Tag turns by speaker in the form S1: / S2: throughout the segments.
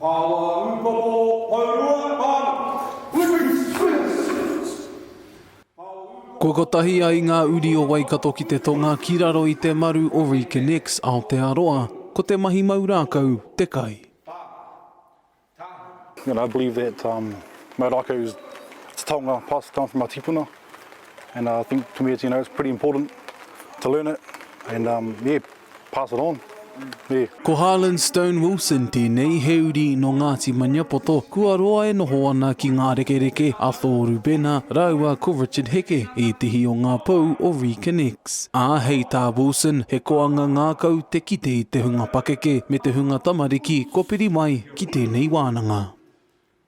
S1: Pawa Upoko Pourua Pāmu! Kua kotahi ai ngā uri o Waikato ki te tonga ki raro i te maru o Reconnects Aotearoa, ko te mahi mau rākau te kai.
S2: And I believe that um, mau rākau is it's a taonga passed down from our tīpuna and uh, I think to me it's, you know, it's pretty important to learn it and um, yeah, Pass it on, nē. Ko Harlan
S1: Stone Wilson tēnei, he uri nō Ngāti Maniapoto, kua roa e noho ana ki ngā rekereke a Tōru Bena rāua ko Richard Heke, ētehi o ngā pou o Reconnects. Ā, hei tā Wilson, he koanga ngākau te kite i te hunga pakeke me te hunga tamariki kua piri mai ki tēnei wānanga.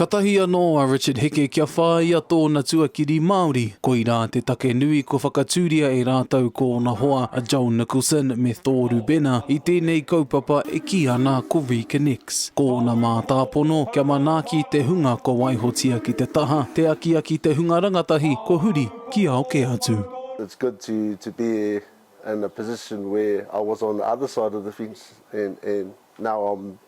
S1: Katahi anō a Richard Heke kia whāia tōna tuakiri Māori, koirā te take nui kua whakatūria e rātou ko ōna hoa a Joel Nicholson me Tōru Bena i tēnei kaupapa e kī ana ko ReConnects. Ko ōna mātāpono kia manaaki te hunga kua waihotia ki te taha, te akiaki te hunga rangatahi kua huri ki ao kē atu. It's good to
S3: to be in a position where I was on the other side of the fence and and now I'm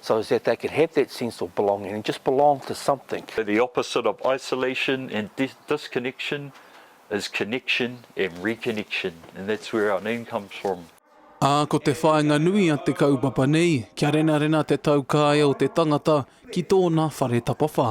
S4: So is that they can have that sense of belonging and just belong to something. The opposite of
S5: isolation and disconnection is connection and reconnection and that's where our name comes from. Ā, ko te
S1: whāinga nui a te kaupapa nei, kia renarena te taukaea o te tangata ki tōna whare tapawhā.